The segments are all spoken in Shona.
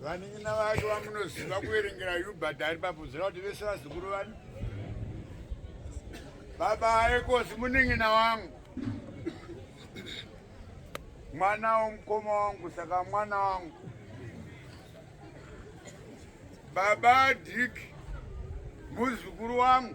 Vanin'ina vake vamunoziva kuverengera Hubert ari papuzira kuti vese vazukuru vani. Baba ayekosi munin'ina wangu. Mwana womukoma wangu saka mwana wangu. Baba Dick muzukuru wangu.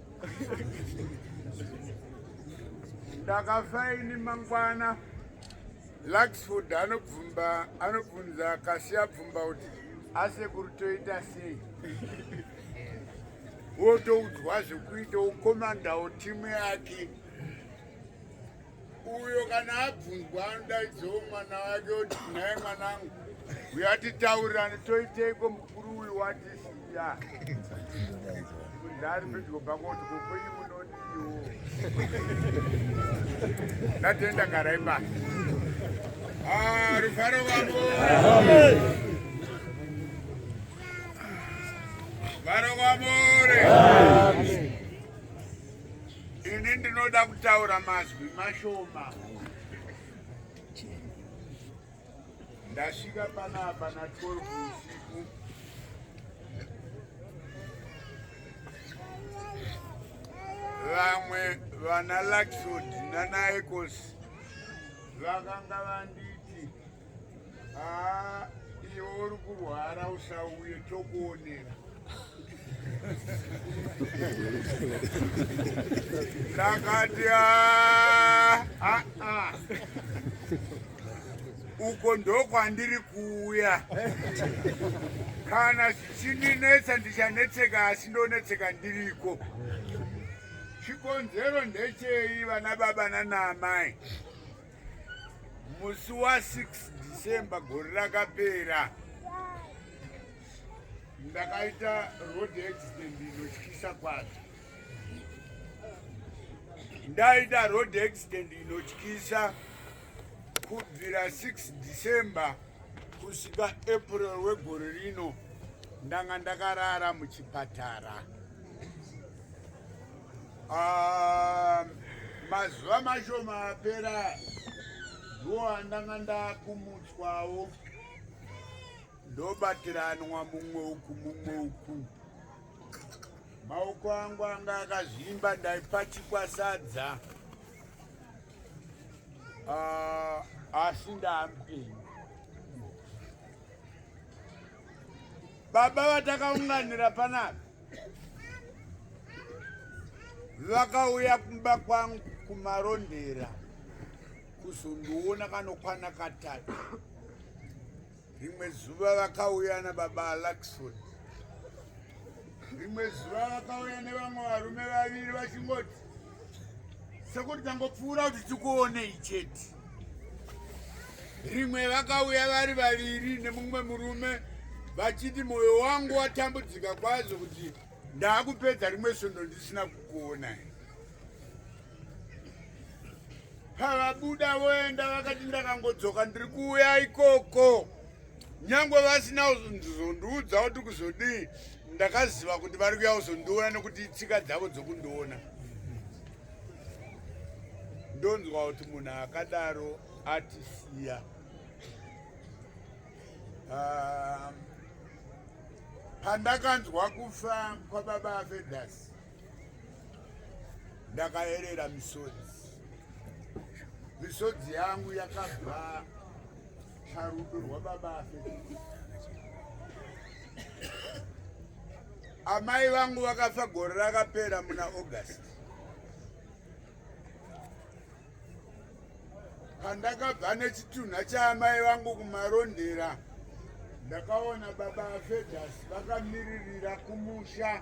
ndakafa ini mangwana luxford anobvumba anobvunza akasiya bvumba kuti asekuru toita sei wotoudzwa zvekuita ukomandawo timu yake uyo kana abvunzwa anodaidzawo mwana wake kuti nhai mwanangu uya titaurirane toiteiko mukuru uyu watisiya ndari pedyo pako kuti kokwenyi munodiwo ndatenda garai basa ah, rufaro vako varo kwamore Ini ndinoda kutaura mazwi mashoma. Ndasvika panapa na 12 usiku. Vamwe vana Laxod nana Ecos vakanga vandi Ah, iwe uri kurwara usauye tokuonera. Ndakati ah, ah, ah. Uko ndokwandiri kuuya. Kana zvichindinetsa ndichanetseka asi ndonetseka ndiriko. Chikonzero ndechei vana baba nana amai? musi wa 6 december gore rakapera ndakaita road accident inotyisa kwazvo ndaita road accident inotyisa kubvira 6 december kusvika april wegore rino ndanga ndakarara muchipatara Ah, mazuva mashoma apera ndiwo andanga ndakumutswawo ndobatiranwa mumwe uku mumwe uku maoko angu anga akazvimba ndaipachikwa sadza ah, asi ndaamupenyu baba vatakaunganira panapa vakauya kumba kwangu kumarondera kuzondiona kanokwana katatu rimwe zuva vakauya nababa alakson rimwe zuva vakauya nevamwe varume vaviri vachingoti sekuti tangopfuura kuti tikuonei chete rimwe vakauya vari vaviri nemumwe murume vachiti mwoyo wangu watambudzika kwazvo kuti ndaakupedza rimwe svondo ndisina kukuona pavabuda voenda vakati ndakangodzoka ndiri kuuya ikoko nyangwe vasina kuzondiudza kuti kuzodii ndakaziva kuti vari kuya kuzondiona nekuti tsika dzavo dzokundiona ndonzwa kuti munhu akadaro atisiya ah, pandakanzwa kufa kwababa afedas ndakaerera misodzi misodzi yangu yakabva Charudo rwababa afe. Amai vangu vakafa gore rakapera muna August. Pandakabva nechitunha chaamai vangu kumarondera ndakaona baba Fedhasi vakamiririra kumusha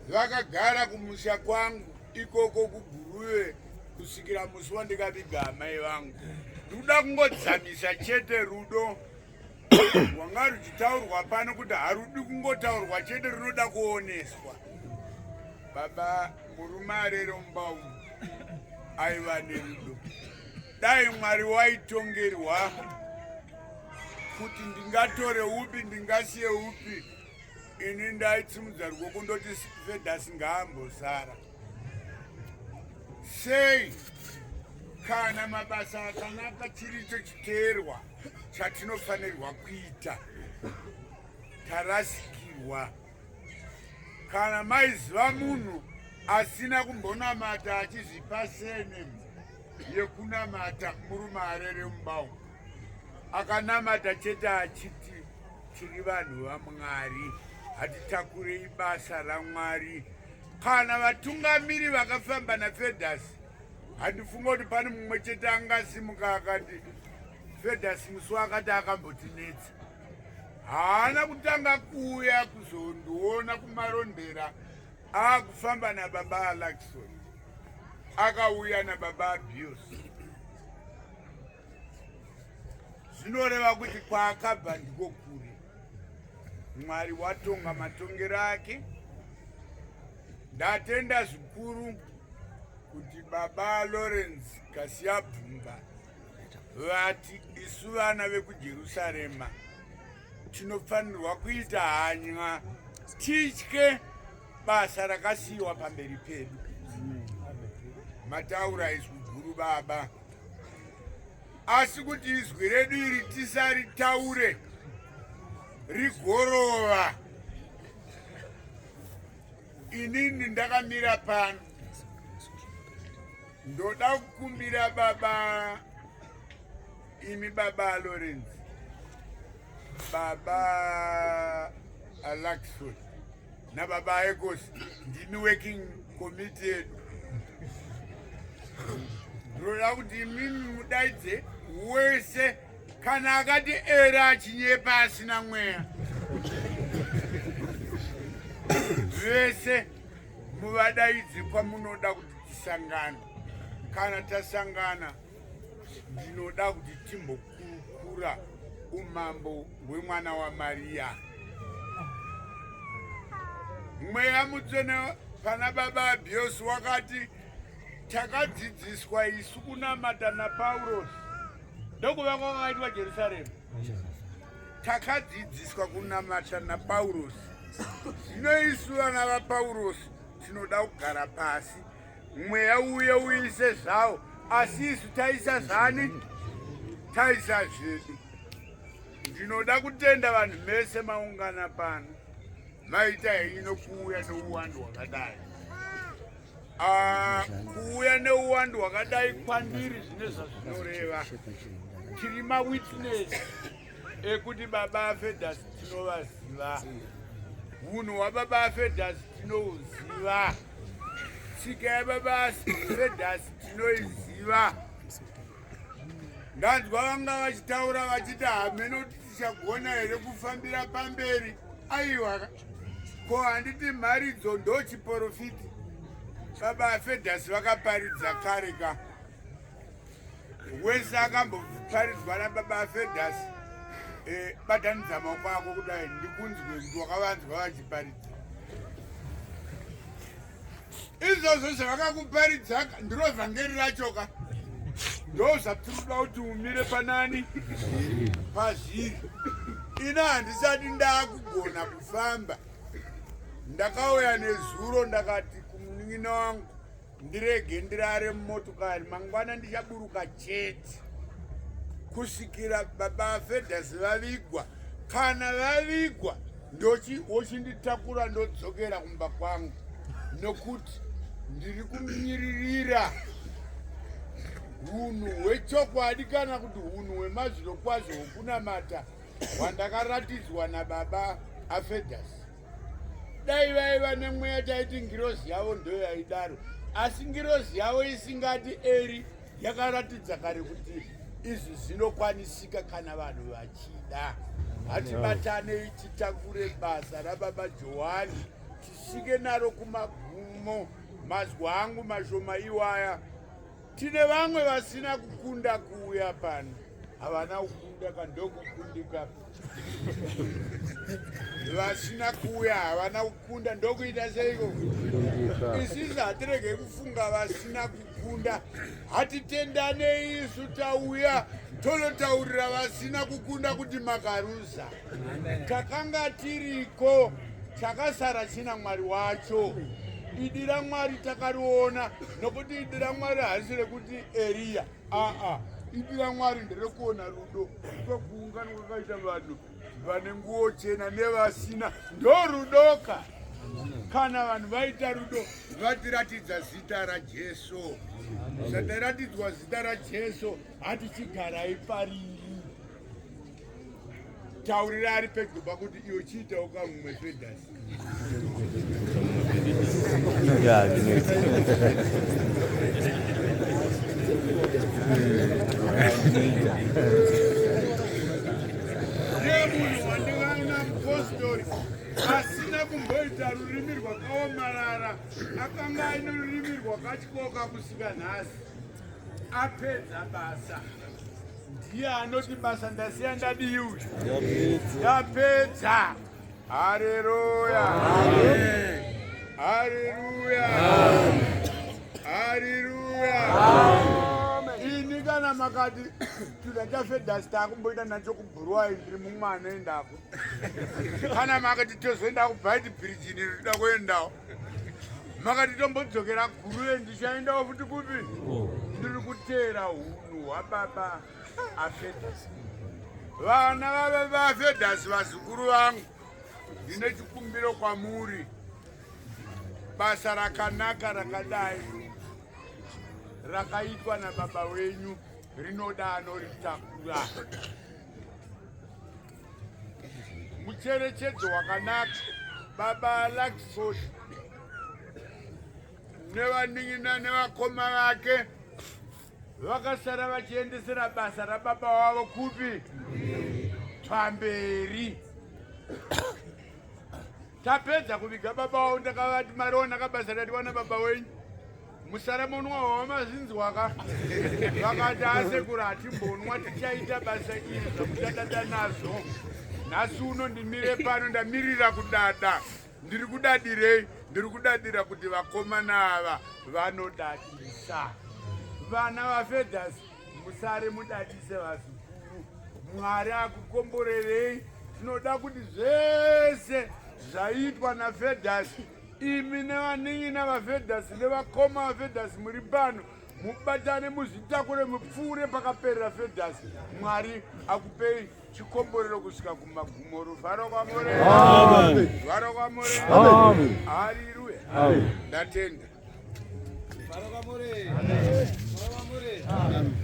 vakagara kumusha kwangu ikoko kuguruve kusvikira musi wandikaviga amai vangu ndikuda kungodzamisa chete rudo rwanga ruchitaurwa pano kuti harudi kungotaurwa chete runoda kuoneswa baba murume arerombau aiva nerudo dai mwari waitongerwa kuti ndingatore upi ndingasiye upi ini ndaitsimudza rwoko ndoti vedas ngaambosara sei kana mabasa akanaka chiri icho chiteerwa chatinofanirwa kuita tarasikirwa kana maiziva munhu asina kumbonamata achizvipa sene yekunamata murume arere mubau akanamata chete achiti tiri vanhu vamwari hatitakurei basa ramwari kana vatungamiri vakafamba nafedas handifunga kuti pane mumwe chete angasimuka akati fedas musi wakati akambotinetsa haana kutanga kuuya kuzondiona kumarondera akufamba nababa alakison akauya nababa abuse zvinoreva kuti kwaakabva ndiko kure mwari watonga matongero ake ndatenda zvikuru kuti baba lawrence kasiyabvumba vati isu vana vekujerusarema tinofanirwa kuita hanywa titye basa rakasiyiwa pamberi pedu mataura izwi guru baba asi kuti izwi redu iri tisaritaure rigorova inini ndakamira pano ndoda kukumbira baba imi baba lawrence baba alaxford nababa ecos ndimi working committee yedu ndinoda kuti imimi mudaidze wese kana akati era achinyepa asina mweya vese muvadaidzi kwamunoda kuti tisangane kana tasangana ndinoda kuti timbokurukura umambo hwemwana wamariya mweya mutsvene pana baba abiosi wakati takadzidziswa isu kunamata napaurosi ndokuva kwakaitwa jerusaremu takadzidziswa kunamata napaurosi zvino isu vana vapaurosi tinoda kugara pasi mweya uye uise zvawo asi isu taisa zvani taisa zvedu ndinoda kutenda vanhu mese maungana pano maita henyu nokuuya nouwandu hwakadai ah, kuuya neuwandu hwakadai kwandiri zvine zvazvinoreva tiri mawitness ekuti baba afedas tinovaziva unhu wababa afedas tinouziva tsika yababasi traders tinoiziva ndanzwa vanga vachitaura vachiti hameno tichagona here kufambira pamberi aiwa ko handiti mharidzo ndochiporofiti baba afedhasi vakaparidza kare ka wese akamboparidzwa nababa afedhasi eh, batanidza maoko ako kudai ndikunzwe kuti wakavanzwa vachiparidza izvozvo zvavakakuparidza ndiro vhangeri rachoka ndo zvatinoda kuti umire panani pazviri ina handisati ndakugona kufamba ndakauya nezuro ndakati kumunin'ina wangu Ndirege ndirare mumotokari mangwana ndichaburuka chete kusvikira baba Fedhasi vavigwa. Kana vavigwa ndochi wochinditakura ndodzokera kumba kwangu nokuti ndiri kumiririra hunhu hwechokwadi kana kuti hunhu hwemazviro kwazvo hwokunamata hwandakaratidzwa nababa afedhasi dai vaiva nemweya taiti ngirozi yavo ndo yaidaro asi ngirozi yavo isingati eri yakaratidza kare kuti izvi zvinokwanisika kana vanhu vachida hatibatanei titakure basa rababa johani tisvike naro kumagumo mazwi angu mashoma iwaya Tine vamwe vasina kukunda kuuya pano, havana kukunda kandokukundika vasina kuuya havana kukunda ndokuita seiko isisi hatirege kufunga vasina kukunda hatitendanei isu tauya tonotaurira vasina kukunda kuti makaruza Takanga tiriko chakasara china Mwari wacho. Idi raMwari takariona nokuti idi raMwari harisi rekuti Eriya. Aa, ah, ah. idi raMwari nderekuona rudo kwekuungana kwakaita vanhu vane nguo chena nevasina ndorudoka kana vanhu vaita rudo vatiratidza zita rajesu zvataratidzwa zita rajesu hatichigarai pariri taurira ari pedyo pakuti iyo chiitawo kamumwe fedas yemunhu wandikaina mupostori asina kumboita rurimi rwakaomarara akanga aine rurimi rwakatyoka kusika nhasi apedza basa ndiye anoti basa ndasiya ndadii uyu ndapedza hareruya hareruya hareruya ini kana makati chida chafedhasi takumboita nacho kubhuruwai ndiri mumwana endapo kana makati tozoenda kubhaiti bhirijini rida kuendawo makati tombodzokera gurue ndichaendawo futi kupi ndiri kuteera hunhu hwababa afedhasi vana vave vaafedhasi vazukuru vangu ndine chikumbiro kwamuri basa rakanaka rakadai rakaitwa nababa wenyu rinoda anoritakura mucherechedzo wakanaka baba laksod nevanin'ina nevakoma vake vakasara vachiendesera basa rababa wavo kupi pamberi tapedza kuviga baba wavo ndakavati mariona kabasa ratiwana baba wenyu musaremonwa wawamazvinzwa ka vakati asekura hatimbonwa tichaita basa iri zvakuchadada nazvo nhasi uno ndimire pano ndamirira kudada ndiri kudadirei ndiri kudadira kuti vakomana ava vanodadisa vana vafedhas musare mudadise vazukuru mwari akukomborerei tinoda kuti zvese zvaitwa nafedhas imi nevanin'ina vavedhasi nevakoma vavedhasi muri pano mubatane muzvitakure mupfuure pakaperera vedhasi mwari akupei chikomborero kusvika kumagumo ruvharo kwamoreuvharo kwamoreariruya ndatenda